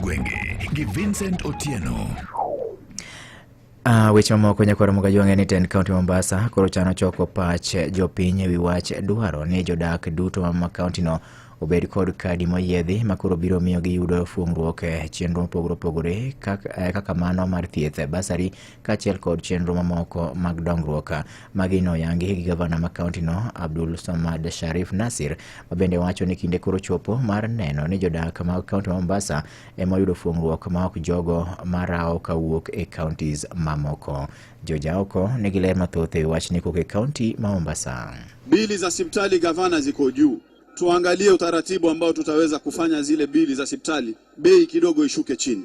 Gwenge gi Vincent Otieno. Uh, weche mamoko nyakwaro mogaji wang'e ni ten kaunti mombasa koro chano choko pach jopiny ewi wach dwaro ni jodak duto ma kauntino obed kod kadi moyiedhi ma koro biro miyo giyudo fuong'ruok e chenro mopogore opogore kaka, eh, kaka mano mar thieth basari kaachiel kod chenro mamoko mag dongruok. Magi noyangi gi gavana ma kaontino Abdul Somad Sharif Nasir ma bende wacho ni kinde koro chopo mar neno ni jodak mag kaonti ma Mombasa ema oyudo fuong'ruok ma ok jogo marawo kawuok e kaontis mamoko. Jojaoko nigi ler mathoth e wi wachni kowuok e kaonti ma Mombasa. Bili za sipitali gavana ziko juu, tuangalie utaratibu ambao tutaweza kufanya zile bili za sipitali bei kidogo ishuke chini.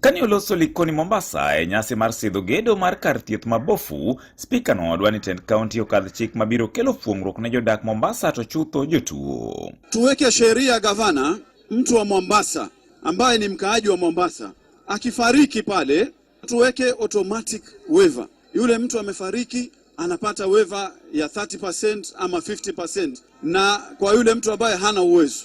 Kane oloso Likoni Mombasa e nyasi mar sidho gedo mar kar thieth ma Bofu, spika no odwa ni tend kaunti okadh chik mabiro kelo fuong'ruok ne jodak Mombasa to chutho jotuo. Tuweke sheria gavana, mtu wa Mombasa ambaye ni mkaaji wa Mombasa akifariki pale, tuweke automatic waiver. Yule mtu amefariki anapata waiver ya 30% ama 50%, na kwa yule mtu ambaye hana uwezo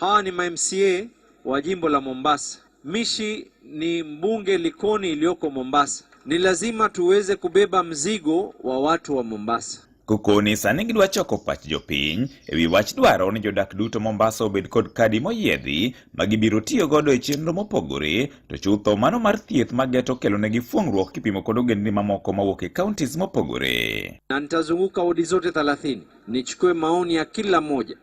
Hawa ni mamca wa jimbo la Mombasa. Mishi ni mbunge Likoni iliyoko Mombasa. Ni lazima tuweze kubeba mzigo wa watu wa Mombasa. Kukoni sani gidwa choko pach jopiny e wi wach dwaro ni jodak duto Mombasa obed kod kadi moyiedhi ma gibiro tiyo godo e chenro mopogore to chutho mano mar thieth ma geto kelonegi fuong'ruok kipimo kod ogendni mamoko mawuok e counties mopogore. Na nitazunguka wodi zote 30 nichukue maoni ya kila moja